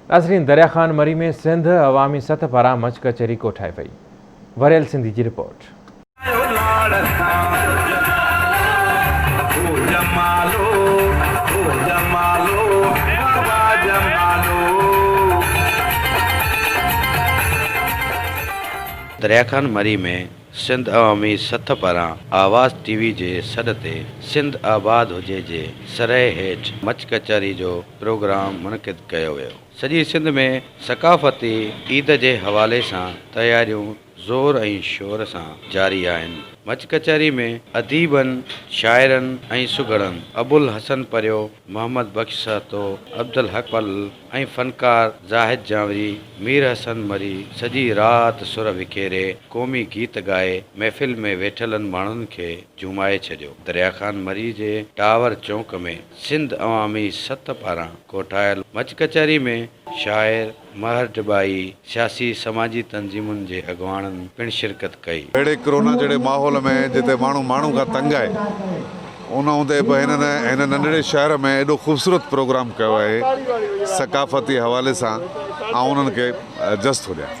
ناظرين دريا خان مري ۾ سنڌ عوامي سٿ پاران مچ ڪچهري ڪوٺائي وئي، وريل سنڌي جي رپورٽ. دريا خان مري ۾ سنڌ عوامي سٿ پاران آواز ٽي وي جي سڏ تي سنڌ آباد هجي جي سرهي هيٺ مچ ڪچهري جو پروگرام منعقد ڪيو ويو. سڄي سنڌ ۾ ثقافتي عيد جي حوالي سان تياريون زور ۽ شور سان جاري آهن. مچ ڪچهري ۾ اديبن، شاعرن ۽ سگهڙن ابوالحسن پريو، محمد بخش سهتو، عبدالحق پل، ۽ فنڪار زاهد جانوري، مير حسن مري سڄي رات سر وکيري قومي گيت ڳائي محفل ۾ ويٺلن ماڻهن کي جهومائي ڇڏيو. دريا خان مري جي ٽاور چونڪ ۾ سنڌ عوامي سٿ پاران ڪوٺايل مچ ڪچهري ۾ شاعر مهر ڊٻائي، سياسي سماجي تنظيمن جي اڳواڻن پڻ شرڪت ڪئي. اهڙي ڪرونا جهڙي ماحول ۾ جتي ماڻهو ماڻهو کان تنگ آهي ان هوندي به هنن هن ننڍڙي شهر ۾ ايڏو خوبصورت پروگرام ڪيو آهي ثقافتي حوالي سان آئون انهن کي جس ٿو ڏيان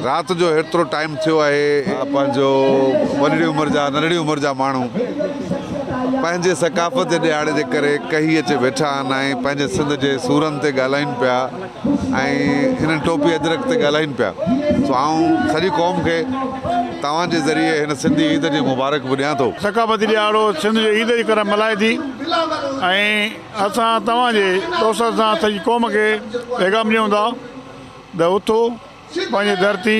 رات جو هيترو ٽائيم ٿيو آهي. پنهنجو وڏڙي عمر جا ننڍڙي عمر جا ماڻهو پنهنجي ثقافت جي ڏيهاڙي جي ڪري ڪهي اچي ويٺا آهن ۽ پنهنجي سنڌ جي سورن تي ڳالهائين پيا. ۽ هن ٽوپي اجرڪ تي ڳالهائين پيا سو آئون سڄي قوم کي توهان جي ذريعي هن سنڌي عيد جي مبارڪ به ڏيان ٿو. ثقافتي ڏيهاڙو سنڌ جو عيد جي طرح ملهائي ٿي ۽ اسان توهان جي توسر سان سڄي قوم کي پيغام ڏيون ٿا ته اٿو پنهنجي ڌرتي،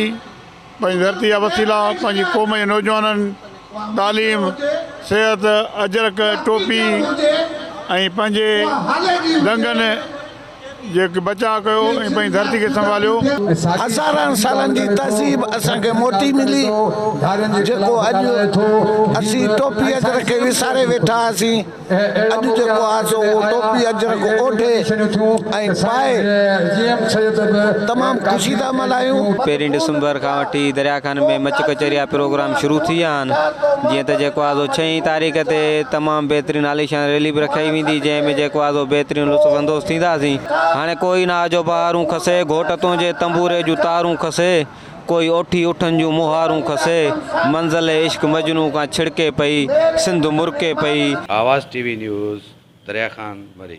پنهنجي ڌرتي جا وسيلا پنهنجي قوم جي نوجوانن تعليم، صحت، اجرڪ، ٽوپي ۽ پنهنجي دنگن جي بچاء ڪيو ۽ پنهنجي ڌرتي کي سنڀاليو. هزارن سالن جي تهذيب اسان کي موٽي ملي، جيڪو اڄ اسين ٽوپي اجرڪ کي وساري ويٺا آهياسين. اڄ جيڪو آهي سو اهو ٽوپي اجرڪ اوڍي ۽ پائي تمام خوشي ٿا ملهايون. پهرين ڊسمبر کان وٺي دريا خان ۾ مچ ڪچهري جا پروگرام شروع ٿي ويا آهن جيئن ته جيڪو آهي سو ڇهين تاريخ تي تمام بهترين عاليشان ريلي به رکائي ويندي جنهن ۾ جيڪو آهي سو بهترين لطف اندوز ٿينداسين. هاڻي ڪوئي نه آجو بهارون کسي گهوٽ تنهنجي تنبوري جون تارون کسي. ڪوئي اوٺي اٺن جون مهارون کسي، منزل عشق مجنون کان ڇڙڪي پئي، سنڌ مرڪي پئي. Awaz T V news Darya Khan Marri.